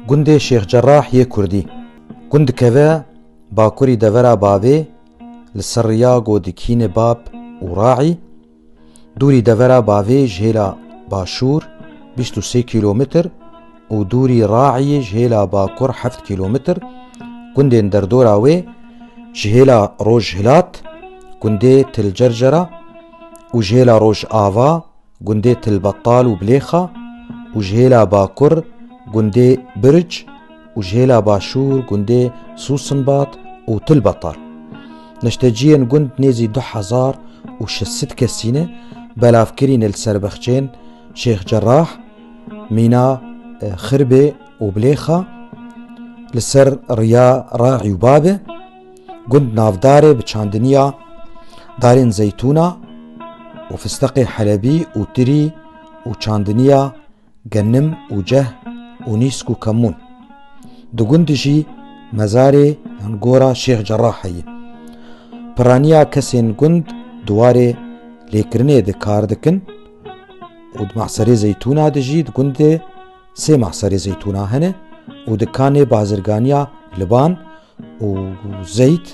Gundê Şêx Cerrah yê Kurdî. Gund dikeve bakurî devera bavê li ser riya godikînê Bab û Raî, dûrî devera bavê ji hêla başûr bîst û sê kîlometr û dûrî Raîyê ji hêla bakur heft kîlometr, gundên derdora wê ji hêla rojhilat gundê Til Cercera û ji hêla rojava, gundê Tilbetal û Bilêxa û ji hêla bakur gundê Birc û ji hêla başûr gundê Sûsinbat û Tilbetal. Neşteciyên gund nêzî du hezar û şeş sed kesî ne, belav kirîne li ser bexçeyên Şêx Cerah, Mîna Xirbê û Bilêxa, li ser riya Raî û Babe, Gund navdarê bi çandiniya darên zeytûna û fisteqê helebî û tirî û çandiniya genim û ceh û nîsk û kemûn. Di gundî jî mezarê yan gora Şêx Cerrah heye. Piraniya kesên gund di warê lêkirinê de kar dikin û di mahserê zeytûna de jî di gundê sê mahserê zeytûna hene û dikanê bazirganiya Liban û Zeyd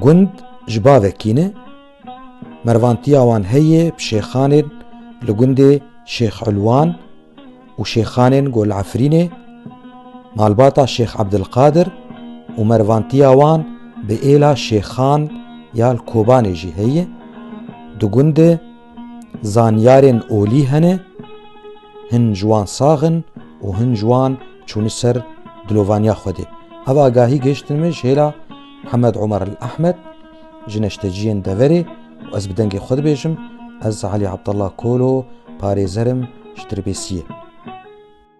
gund ji bavê kî ne, mervantiya wan heye bi şêxanên li gundê Şêx Ulwan û şêxanên Gol Efrînê, malbata Şêx Ebdilqadir û mervantiya wan bi êla şêxan ya li Kobanê jî heye, di gundê Zanyarên olî hene, hin ji wan sax in û hin ji wan çûne ser dilovaniya Xwedê. Ev agahî gihiştin min ji hêla Hemed Omer El Ehmed ji neşteciyên deverê û ez bi dengê xwe dibêjim, ez Elî Abdallah Kolo, parêzer im ji Dirbêsiyê.